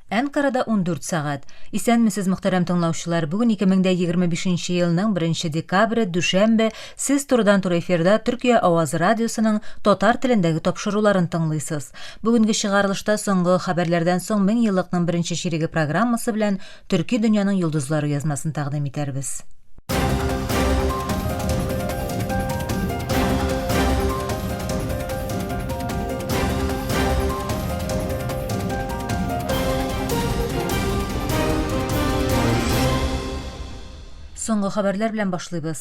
Әнкарада 14 сәгать. Исәнмесез, мөхтәрәм тыңлаучылар. Бүген 2025 елның 1 декабре, дүшәмбе. Сез турыдан-туры эфирда Төркия Авазы радиосының татар телендәге тапшыруларын тыңлыйсыз. Бүгенге чыгарылышта соңгы хәбәрләрдән соң 1000 еллыкның беренче чиреге программасы белән Төрки дөньяның йолдызлары язмасын тәкъдим итәрбез. Соңгы хәбәрләр белән башлыйбыз.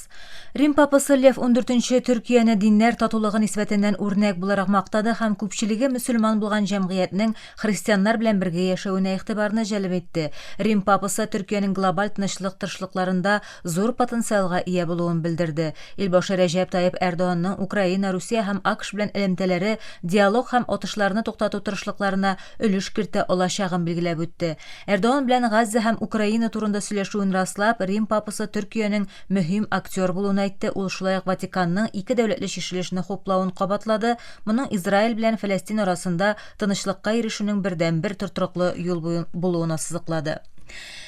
Рим папасы Лев 14-нче Төркияне диннәр татулыгы нисбәтеннән үрнәк буларак мактады һәм күпчелеге мөселман булган җәмгыятьнең христианнар белән бергә яшәвенә игътибарны җәлеп итте. Рим папасы Төркиянең глобаль тынычлык тырышлыкларында зур потенциалга ия булуын белдерде. Илбашы Рәҗәп Таеп Эрдоанның Украина, Русия һәм АКШ белән элемтәләре, диалог һәм атышларны туктату тырышлыкларына өлеш кертә алачагын билгеләп үтте. Эрдоан белән Газза һәм Украина турында сөйләшүен раслап, Рим папасы Төркиянең мөһим актер булуын әйтте, ул шулай ук Ватиканның ике дәүләтле чишелешне хуплавын кабатлады, моның Израиль белән Фәләстин арасында тынычлыкка ирешүнең бердәнбер тортрыклы юл булуына сызыклады.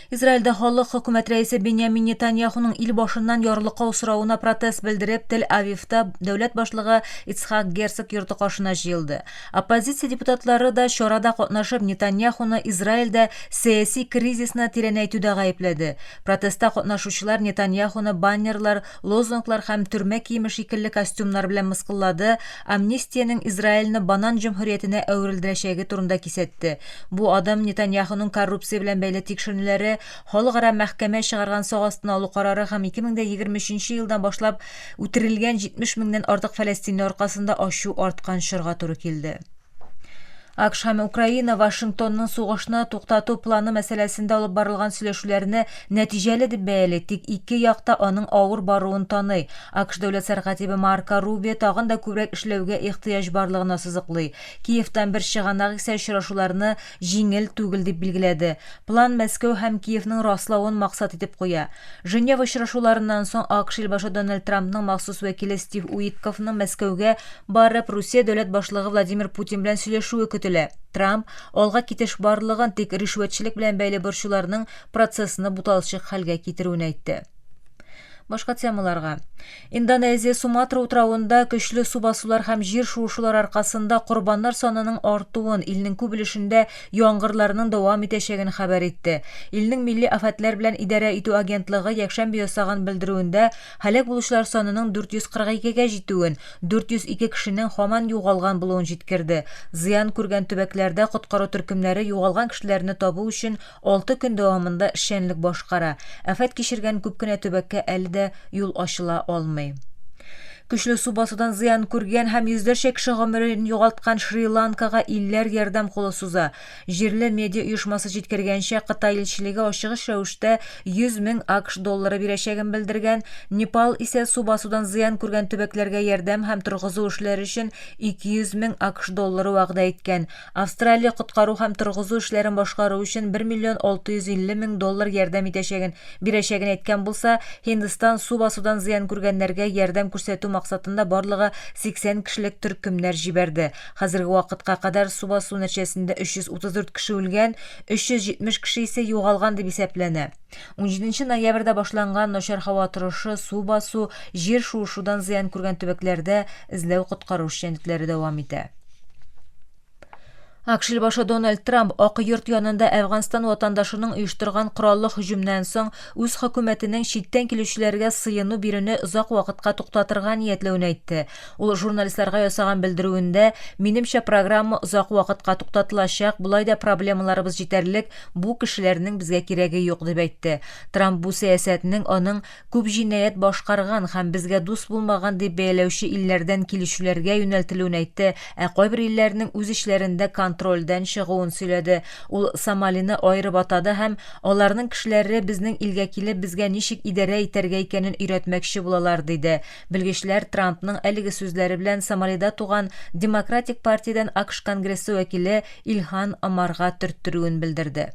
Израильдә халык хөкүмәт рәисе Беньямин Нетаньяхуның ил башыннан ярлыкау соравына протест белдереп, Тел-Авивта дәүләт башлыгы Ицхак Герцог йорты каршына җыелды. Оппозиция депутатлары да чарада катнашып Нетаньяхуны Израильдә сәяси кризисны тирәнәйтүдә гаепләде. Протестта катнашучылар Нетаньяхуны баннерлар, лозунглар һәм төрмә киеме шикелле костюмнар белән мыскыллады, Амнистиянең Израильне банан җөмһүриятенә әверелдерәчәге турында кисәтте. Бу адым Нетаньяхуның коррупция белән бәйле тикшеренүләре, Халыкара мәхкәмә чыгарган сак астына алу карары һәм 2023 елдан башлап үтерелгән 70 меңнән артык фәләстинле аркасында ачу арткан чорга туры килде. АКШ һәм Украина Вашингтонның сугышны туктату планы мәсьәләсендә алып барылган сөйләшүләрне нәтиҗәле дип бәяли, тик ике як та аның авыр баруын таный. АКШ дәүләт сәркатибе Марко Рубио тагын да күбрәк эшләүгә ихтыяҗ барлыгына сызыклый. Киевтан бер чыганак исә очрашуларны җиңел түгел дип билгеләде. План Мәскәү һәм Киевның раславын максат итеп куя. Женева очрашуларыннан соң АКШ илбашы Дональд Трампның махсус вәкиле Стив Уитковның Мәскәүгә барып, Русия дәүләт башлыгы Владимир Путин белән сөйләшүе көтелә. Трамп, алга китеш барлыгын, тик ришвәтчелек белән бәйле борчуларның процессны буталчык хәлгә китерүен әйтте. Башка темаларга. Индонезия Суматра утравында көчле су басулар һәм җир шуышулар аркасында корбаннар санының артуын, илнең күп өлешендә яңгырларның дәвам итәчәген хәбәр итте. Илнең милли афәтләр белән идарә итү агентлыгы якшәмбе ясаган белдерүендә һәлак булучылар санының 442 гә җитүен, 402 кешенең һаман югалган булуын җиткерде. Зыян күргән төбәкләрдә коткару төркемнәре югалган кешеләрне табу өчен Алты көн дәвамында эшчәнлек башкара. Афәт кичергән күп кенә төбәккә әле дә юл ачыла алмый. Көчле су басудан зыян күргән һәм йөзләрчә кеше гомерен югалткан Шри-Ланкага илләр ярдәм кулы суза. Җирле медиа оешмасы җиткергәнчә, Кытай илчелеге ачыгыч рәвештә 100 мең АКШ доллары бирәчәген белдергән, Непал исә су басудан зыян күргән төбәкләргә ярдәм һәм торгызу эшләре өчен 200 мең АКШ доллары вәгъдә иткән. Австралия коткару һәм торгызу эшләрен башкару өчен 1 миллион 650 мең доллар ярдәм итәчәген, бирәчәген әйткән булса, Һиндстан су басудан зыян күргәннәргә ярдәм күрсәтү максатында барлыгы 80 кешелек төркемнәр җибәрде. Хәзерге вакытка кадәр су басу нәтҗәсендә 334 кеше үлгән, 370 кеше исә югалган дип исәпләнә. Унҗиденче ноябрьдә башланган начар һава торышы, су басу, җир шуышудан зыян күргән төбәкләрдә эзләү-коткару эшчәнлекләре дәвам итә. АКШ илбашы Дональд Трамп Ак йорт янында Әфганстан ватандашының оештырган кораллы һөҗүмнән соң үз хөкүмәтенең читтән килүчеләргә сыену бирүне озак вакытка туктатырга ниятләвен әйтте, Ул журналистларга ясаган белдерүендә, Минемчә, программа озак вакытка туктатылачак, болай да проблемаларыбыз җитәрлек, бу кешеләрнең безгә кирәге юк, дип әйтте. Трамп бу сәясәтнең аның күп җинаять башкарган һәм безгә дус булмаган дип бәяләүче илләрдән килүчеләргә юнәлтелүен әйтте, ә кайбер илләрнең үз эчләрендә контрольдән чыгуын сөйләде. Ул Сомалины аерып атады һәм Аларның кешеләре безнең илгә килеп, безгә ничек идарә итәргә икәнен өйрәтмәкче булалар, диде. Белгечләр Трампның әлеге сүзләре белән Сомалида туган Демократик партиядән АКШ Конгрессы вәкиле Илһан Омарга төрттерүен белдерде.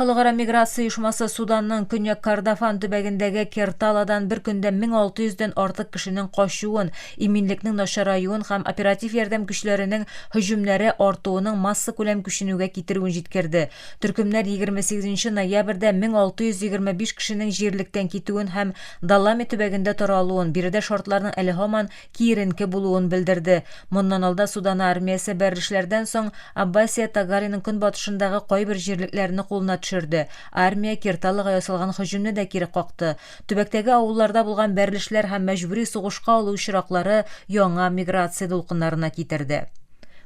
Халыкара миграция оешмасы Суданның Көньяк Кордофан төбәгендәге Керталадан бер көндә 1600 дән артык кешенең качуын, иминлекнең начараюын һәм оператив ярдәм көчләренең һөҗүмнәре артуының массакүләм күченүгә китерүен җиткерде. Төркемнәр 28 нче ноябрьдә 1625 кешенең җирлектән китүен һәм Даллами төбәгендә тора алуын, биредә шартларның әле һаман киеренке булуын белдерде. Моннан алда Судана армиясе Бәрришләрдән соң Аббасия Тагалиның көнбатышындагы кайбер җирлекләрне кулына төшерде. Армия Кирталага ясалган һөҗүмне дә кире какты. Төбәктәге авылларда булган бәрришләр һәм мәҗбүри сугышка алу очраклары яңа миграция дулкыннарына китерде.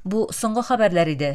Бу соңгы хәбәрләр иде.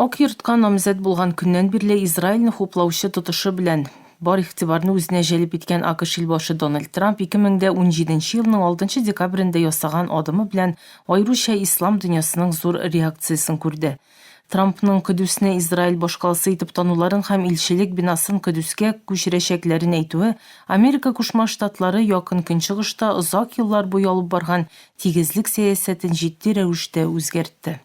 Ак йортка намзәт булган көннән бирле Израильне хуплаучы тотышы белән бар игътибарны үзенә җәлеп иткән АКШ илбашы Дональд Трамп 2017 елның 6 декабрендә ясаган адымы белән аеруча ислам дөньясының зур реакциясен күрде. Трампның Көдүсне Израиль башкаласы итеп тануларын һәм илчелек бинасын Көдүскә күчерәчәкләрен әйтүе Америка Кушма Штатлары Якын Көнчыгышта озак еллар буе алып барган тигезлек сәясәтен җитди рәвештә үзгәртте.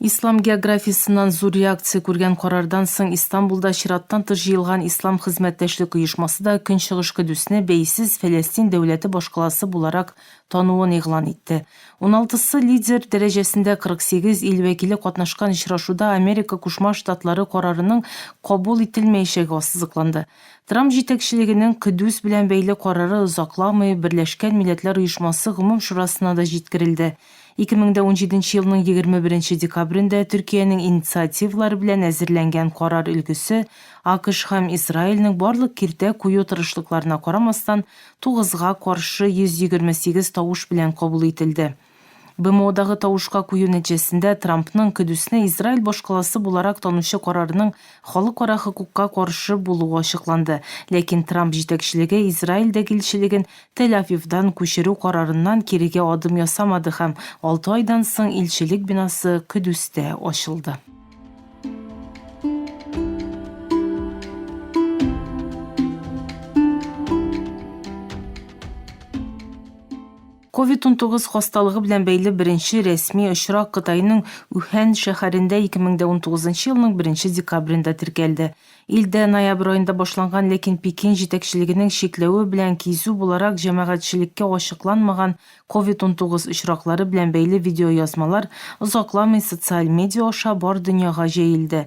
Ислам географиясеннән зур реакция күргән карардан соң Истанбулда чираттан тыш җыелган Ислам хезмәттәшлек оешмасы да Көнчыгыш Көдесне бәйсез Фәләстин дәүләте башкаласы буларак тануын игълан итте. Уналтысы лидер дәрәҗәсендә 48 ил вәкиле катнашкан очрашуда Америка Кушма Штатлары карарының кабул ителмәячәге ассызыкланды. Трамп җитәкчелегенең Көдес белән бәйле карары озакламый Берләшкән Милләтләр Оешмасы Гомум шурасына да җиткерелде. Ике мең дә унҗиденче елның егерме беренче декабрендә Төркиянең инициативалары белән әзерләнгән карар өлгесе, АКШ һәм Израильнең барлык киртә кую тырышлыкларына карамастан, тугызга каршы йөз егерме сигез тавыш белән кабул ителде. БМОдагы тавышка кую нәтиҗәсендә Трампның Көдүсне Израиль башкаласы буларак танучы карарының Халыкара хокукка каршы булуы ачыкланды, ләкин Трамп җитәкчелеге Израильдәге илчелеген Тель-Авивдан күчерү карарыннан кирегә адым ясамады һәм алты айдан соң илчелек бинасы Көдүстә ачылды. Ковид-унтугыз хасталыгы белән бәйле беренче рәсми очрак Кытайның Үһән шәһәрендә ике мең дә унтугызынчы елның беренче декабрендә теркәлде. Илдә ноябрь аенда башланган, ләкин Пекин җитәкчелегенең чикләве белән кизү буларак җәмәгатьчелеккә ачыкланмаган Ковид-унтугыз очраклары белән бәйле видеоязмалар озакламый социаль медиа аша бар дөньяга җәелде.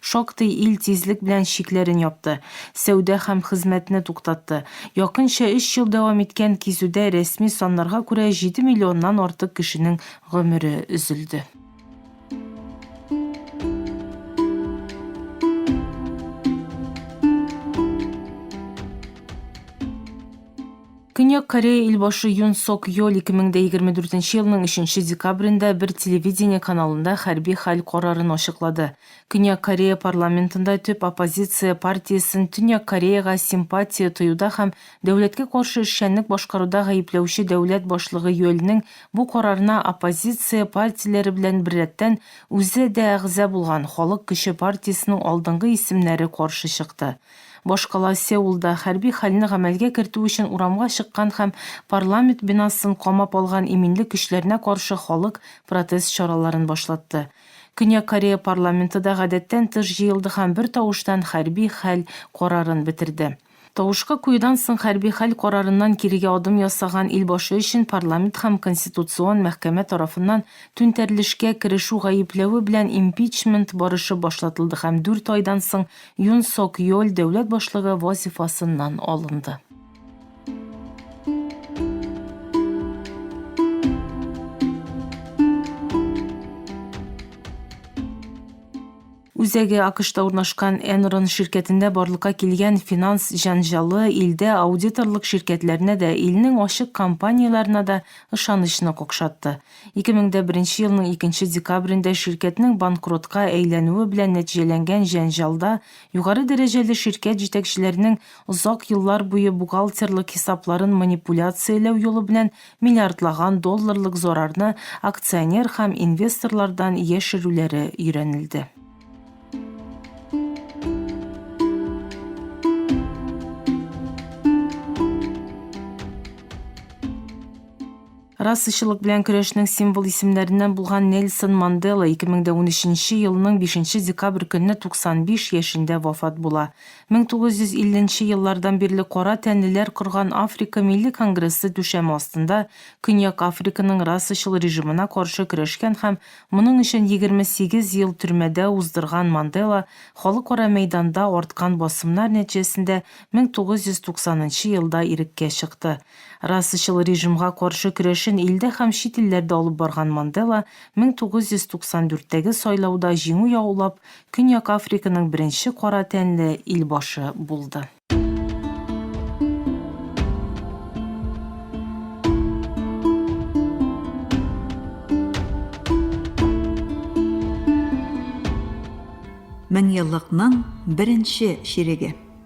Шактый ил тизлек белән чикләрен япты, сәүдә һәм хезмәтне туктатты. Якынча өч ел дәвам иткән кизүдә рәсми саннарга күрә җиде миллионнан артык кешенең гомере өзелде. Көньяк Корея илбашы Юн Сок Йоль 2024 елның 3 декабрендә бер телевидение каналында хәрби хәл карарын ачыклады. Көньяк Корея парламентында төп оппозиция партиясен Төньяк Кореяга симпатия тоюда һәм дәүләткә каршы эшчәнлек башкаруда гаепләүче дәүләт башлыгы Йольнең бу карарына оппозиция партияләре белән беррәттән үзе дә әгъза булган Халык көче партиясенең алдынгы исемнәре каршы чыкты. Башкала Сеулда хәрби хәлне гамәлгә кертү өчен урамга чыккан һәм парламент бинасын камап алган иминлек көчләренә каршы халык протест чараларын башлатты. Көньяк Корея парламенты да гадәттән тыш җыелды һәм бертавыштан хәрби хәл карарын бетерде. Тавышка куюдан соң хәрби хәл карарыннан кирегә адым ясаган ил башы өчен парламент һәм конституцион мәхкәмә тарафыннан түнтәрелешкә керешү гаепләве белән импичмент барышы башлатылды һәм дүрт айдан соң Юн Сок Йоль дәүләт башлыгы вазифасыннан алынды. Үзәге АКШта урнашкан Enron ширкәтендә барлыкка килгән финанс җанжалы илдә аудиторлык ширкәтләренә дә, илнең ачык компанияләренә дә ышанычны какшатты. 2001 елның икенче декабрендә ширкәтнең банкротка әйләнүе белән нәтиҗәләнгән җәнҗалда югары дәрәҗәле ширкәт җитәкчеләренең озак еллар буе бухгалтерлык хисапларын манипуляцияләү юлы белән миллиардлаган долларлык зарарны акционер һәм инвесторлардан яшерүләре өйрәнелде. Расачылык белән көрәшнең символ исемнәреннән булган Нельсон Мандела 2013 елның 5 декабрь көнне 95 яшендә вафат була. 1950 еллардан бирле кара тәнлеләр корган Африка милли конгрессы түшәме астында Көньяк Африканың расачыл режимына каршы көрәшкән һәм моның өчен 28 ел төрмәдә уздырган Мандела халыкара мәйданда арткан басымнар нәтиҗәсендә 1990 елда иреккә чыкты. Расачыл режимга каршы көрәшен илдә һәм чит илләрдә алып барган Мандела 1994-тәге сайлауда җиңү яулап, Көньяк Африканың беренче кара тәнле илбашы булды. Меңьеллыкның беренче чиреге.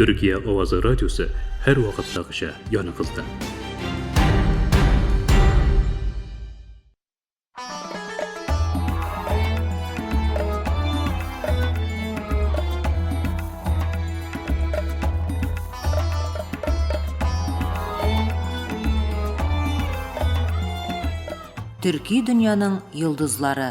Төркия авазы радиосы һәрвакыттагыча яныкызда. төрки дөньяның йолдызлары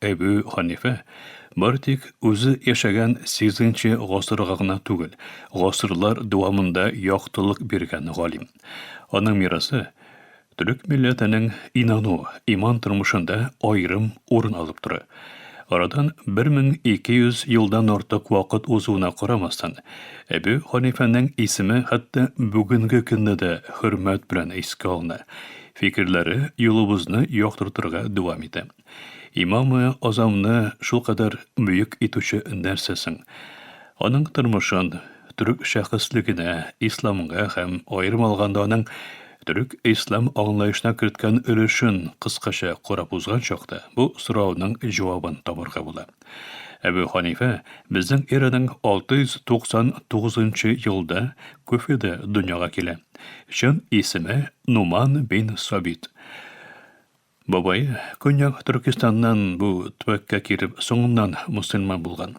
Әбү Ханифә бары тик үзе яшәгән 8-нче гасырга гына түгел, гасырлар дәвамында яктылык биргән галим. Аның мирасы төрек милләтенең инану, иман тормышында аерым урын алып тора. Арадан 1200 елдан артык вакыт узуына карамастан, Әбү Ханифәнең исеме хәтта бүгенге көнне дә хөрмәт белән искә алына, фикерләре юлыбызны яктыртырга дәвам итә. Имамы Азамны шулкадәр бөек итүче нәрсә соң? Аның тормышын, төрек шәхеслегенә, исламга һәм, аерым алганда, аның төрек-ислам аңлаешына керткән өлешен кыскача карап узган чакта, бу сорауның җавабын табарга була. Әбү Ханифә безнең эраның 699 нчы елда Куфеда дөньяга килә. Чын исеме Нуман бин Сабит. Бабай, Көньяк Төркистаннан бу төбәккә килеп, соңыннан мөселман булган.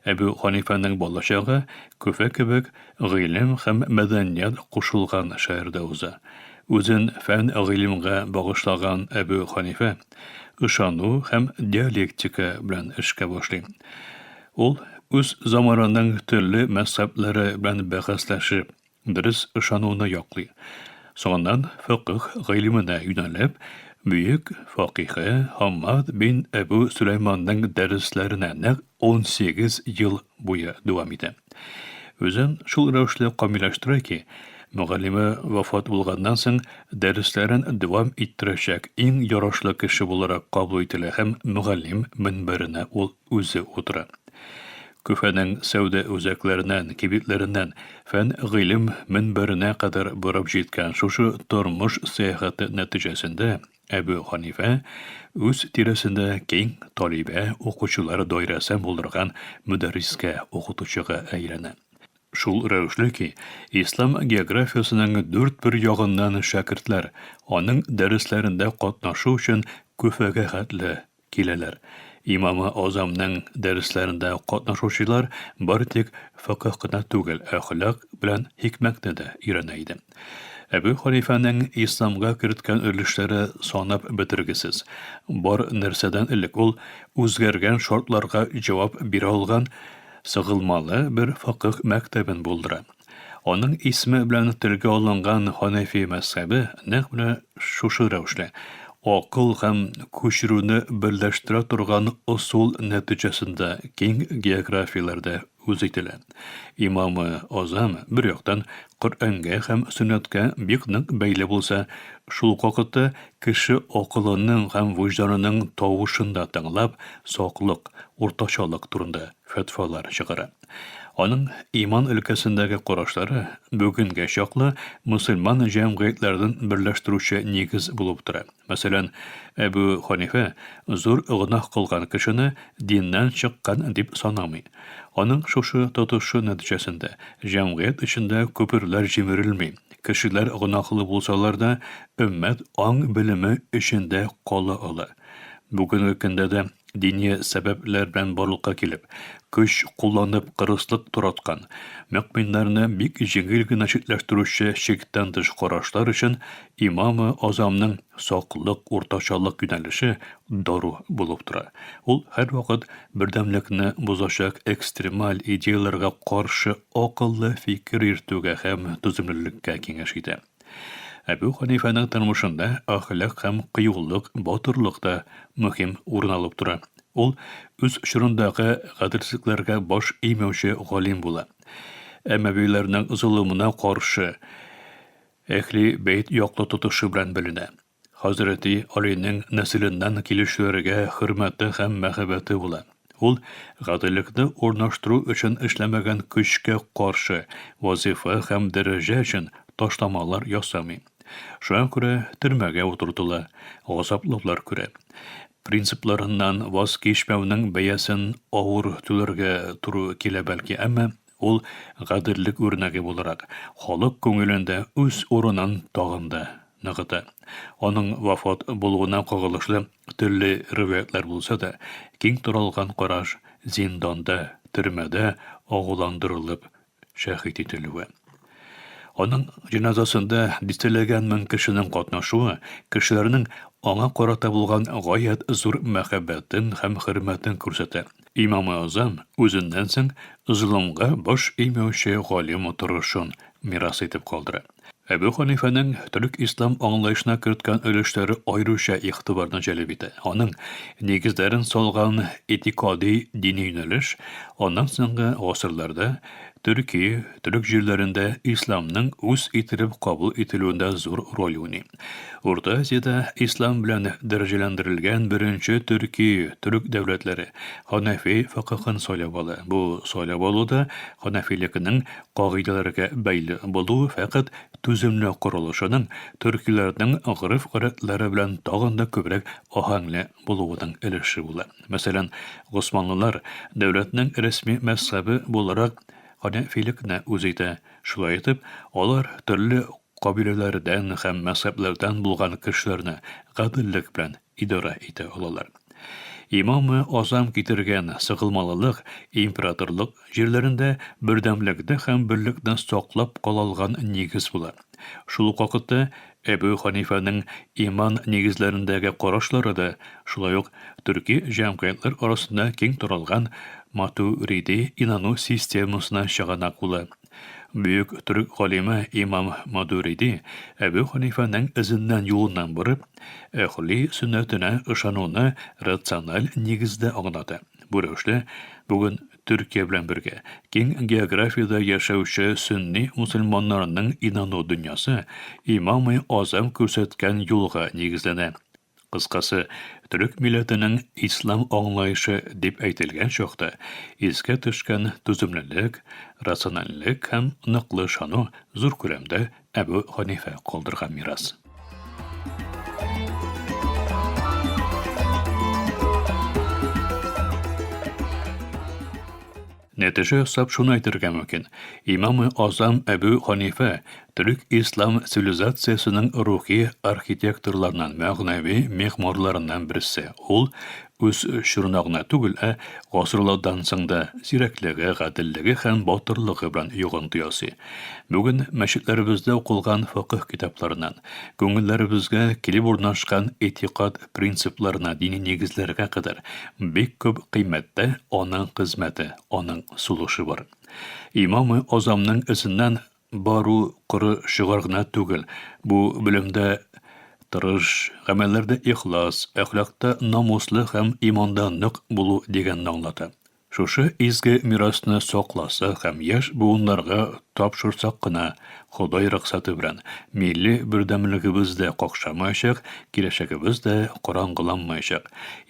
Әбү Ханифаның балачагы Көфә кебек гыйлем һәм мәдәният кушылган шәһәрдә уза. Үзен фән-гыйлемгә багышлаган Әбү Ханифа ышану һәм диалектика белән эшкә башлый. Ул үз заманының төрле мәзһәбләре белән бәхәсләшеп, дөрес ышануны яклый. Соңыннан фикъһ гыйлеменә юнәлеп, бөек факиһе Хаммад бин Әбү Сөләйманның дәресләренә нәкъ унсигез ел буе дәвам итә. Үзен шул рәвешле камилләштерә ки, мөгаллиме вафат булганнан соң дәресләрен дәвам иттерәчәк иң ярашлы кеше буларак кабул ителә һәм мөгаллим мөнбәренә ул үзе утыра. Көфәнең сәүдә үзәкләреннән, кибетләреннән фән-гыйлем мөнбәренә кадәр барып җиткән шушы тормыш сәяхәте нәтиҗәсендә Әбү Ханифә үз тирәсендә киң талибә, укучылар даирәсе булдырган мөдәррискә, укытучыга әйләнә. Шул рәвешле ки, ислам географиясенең дүрт бер ягыннан шәкертләр аның дәресләрендә катнашу өчен Көфәгә хәтле Киләләр. Имамы Азамның дәресләрендә катнашучылар бары тик фикһ кына түгел, әхлак белән хикмәтне дә өйрәнә иде. Әбү Ханифәнең исламга керткән өлешләре санап бетергесез. Бар нәрсәдән элек ул үзгәргән шартларга җавап бирә алган сыгылмалы бер фикһ мәктәбен булдыра. Аның исеме белән телгә алынган Ханәфи мәзһәбе нәкъ менә шушы рәвешле, акыл һәм күчерүне берләштерә торган ысул нәтиҗәсендә киң географияләрдә үз ителә. Имамы Азам, бер яктан, Коръәнгә һәм сөннәткә бик нык бәйле булса, шул ук вакытта кеше акылының һәм вөҗданының тавышын да тыңлап, саклык, уртачалык турында фәтвалар чыгара. Аның иман өлкәсендәге карашлары бүгенгә чаклы мөселман җәмгыятьләрен берләштерүче нигез булып тора. Мәсәлән, Әбү Ханифә зур гөнаһ кылган кешене диннән чыккан дип санамый. Аның шушы тотышы нәтиҗәсендә җәмгыять эчендә күперләр җимерелми, кешеләр гөнаһлы булсалар да, өммәт аң-белеме эчендә кала ала. Бүгенге көндә дә дини сәбәпләр белән барлыкка килеп, көч кулланып кырыслык тураткан, мөкминнәрне бик җиңел генә читләштерүче чиктән тыш карашлар өчен имамы азамның саклык, уртачалык юнәлеше дару булып тора. Ул һәрвакыт бердәмлекне бозачак экстремаль идеяләргә каршы акыллы фикер йөртүгә һәм түземлелеккә киңәш итә. Әбү Ханифаның тормышында әхлак һәм кыюлык, батырлык та мөһим урын алып тора. Ул үз чорындагы гаделсезлекләргә баш имәүче галим була. Әмәвиләрнең золымына каршы Әхли бәйт яклы тотышы белән беленә. Хәзрәти Алинең нәселеннән килүчеләргә хөрмәте һәм мәхәббәте була. Ул гаделлекне урнаштыру өчен эшләмәгән көчкә каршы, вазифа һәм дәрәҗә өчен ташламалар ясамый. Шуңа күрә төрмәгә утыртыла, газаплаулар күрә. Принципларыннан ваз кичмәүнең бәясен авыр түләргә туры килә бәлки, әмма Ул гаделлек үрнәге буларак, халык күңелендә үз урынын тагын да ныгыта. Аның вафат булуына кагылышлы төрле риваятьләр булса да, киң таралган караш, зинданда, төрмәдә агуландырылып шәһит ителүе. Аның җеназасында дистәләгән мең кешенең катнашуы кешеләрнең аңа карата булган гаять зур мәхәббәтен һәм хөрмәтен күрсәтә. Имамы Азам үзеннән соң золымга баш эймәүче галим торышын мирас итеп калдыра. Әбү Ханифәнең төрек-ислам аңлаешына керткән өлешләре аеруча игътибарны җәлеп итә. Аның нигезләрен салган этикади дини юнәлеш аннан соңгы гасырларда Төркия, төрек җирләрендә исламның үз ителеп кабул ителүендә зур роль уйный. Урта Азиядә ислам белән дәрәҗәләндерелгән беренче төрки төрек дәүләтләре ханафи фикыһын сайлап ала. Бу сайлап алуда ханафилекнең кагыйдәләргә бәйле булуы фәкать түземле корылышының төркиләрнең гореф-гадәтләре белән тагын да күбрәк аһәңле булуының өлеше була. Мәсәлән, госманлылар дәүләтнең рәсми мәзһәбе буларак ханафилекне үз итә. Шулай итеп, алар төрле кабиләләрдән һәм мәзһәбләрдән булган кешеләрне гаделлек белән идарә итә алалар. Имамы Азам китергән сыгылмалылык императорлык җирләрендә бердәмлекне һәм берлекне саклап кала алган нигез була. Шул ук вакытта Әбү Ханифаның иман нигезләрендәге карашлары да шулай ук төрки җәмгыятьләр арасында киң таралган матуриди инану системасына чыганак була, Бөек төрек галиме имам Мадуриди Әбү Ханифаның эзеннән юлыннан барып, әхли сөннәтенә ышануны рациональ нигездә аңлата. Бу рәвешле, бүген Төркия белән бергә киң географиядә яшәүче сөнни мусульманнарның инану дөньясы имамы Азам күрсәткән юлга нигезләнә. Кыскасы, төрек милләтенең ислам аңлаешы дип әйтелгән чакта искә төшкән түземлелек, рациональлек һәм ныклы ышану зур күләмдә Әбү Ханифә калдырган мирас. Нәтиҗә ясап шуны әйтергә мөмкин, имамы Азам Әбү Ханифә төрек ислам цивилизациясенең рухи архитекторларыннан, мәгънәви мехморларыннан берсе. Ул үз чорына гына түгел, ә гасырлардан соң да зирәклеге, гаделлеге һәм батырлыгы белән йогынты ясый. Бүген мәчетләребездә укылган факыһ китапларыннан, күңелләребезгә килеп урнашкан этикад принципларына, дини нигезләргә кадәр бик күп кыйммәттә аның хезмәте, аның сулышы бар. Имамы Азамның эзеннән бару коры шигарь гына түгел, бу белемдә тырыш, гамәлләрдә ихлас, әхлакта намуслы һәм иманда нык булу дигәнне аңлата. Шушы изге мирасны сакласак һәм яшь буыннарга тапшырсак кына, Ходай рөхсәте белән, милли бердәмлегебез дә какшамаячак, киләчәгебез дә караңгыланмаячак.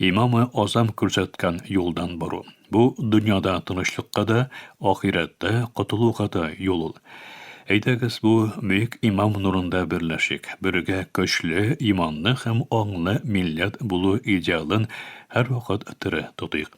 Имамы Азам күрсәткән юлдан бару. Бу дөньяда тынычлыкка да, ахирәттә котылуга да юл ул. Әйдәгез, бу бөек имам нурында берләшик, бергә көчле, иманлы һәм аңлы милләт булу идеалын һәрвакыт тере тотыйк.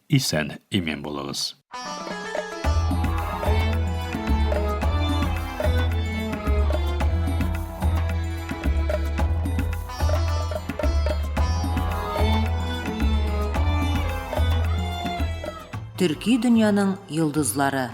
Исән имин булыгыз. Төрки дөньяның йолдызлары.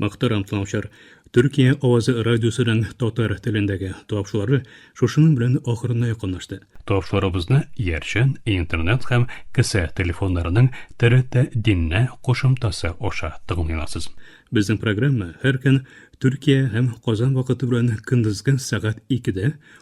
Мохтарам тыңлаучылар, Төркия авазы радиосының татар телендәге тапшылары шушының белән ахырына якынлашты. Тапшыларыбызны Ярчан, Интернет һәм кесә телефоннарының ТРТ Диннә кушымтасы аша тыңлый аласыз. Безнең программа һәр көн Төркия һәм Казан вакыты белән көндезге сәгать икедә,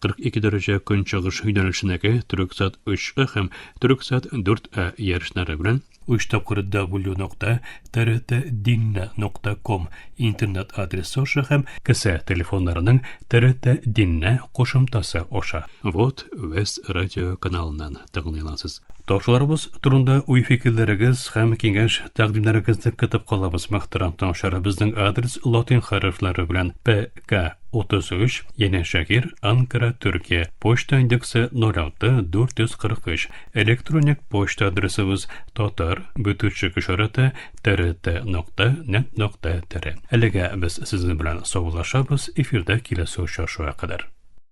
42 дәрәҗә көнчыгыш юнәлешенәге Төрексат 3А һәм Төрексат 4А ярышлары белән 3 тапкыр w.trt.dinna.com интернет адресы аша һәм кесә телефоннарының TRT Dinna кушымтасы аша. Вот Вест радио каналыннан. тәкъдим итәсез. Ташуларыбыз турында уй-фикерләрегез һәм киңәш тәкъдимнәрегезне көтеп калабыз, мөхтәрәм тыңлаучылар. Безнең адрес латин хәрефләре белән ПК 33, Яне Шәһир, Анкара, Төркия. Почта индексы 06 443. Электроник почта адресыбыз татар бөтүчек ишараты трт нокта нет нокта тире. Әлегә без сезнең белән саулашабыз, эфирда киләсе очрашуга кадәр.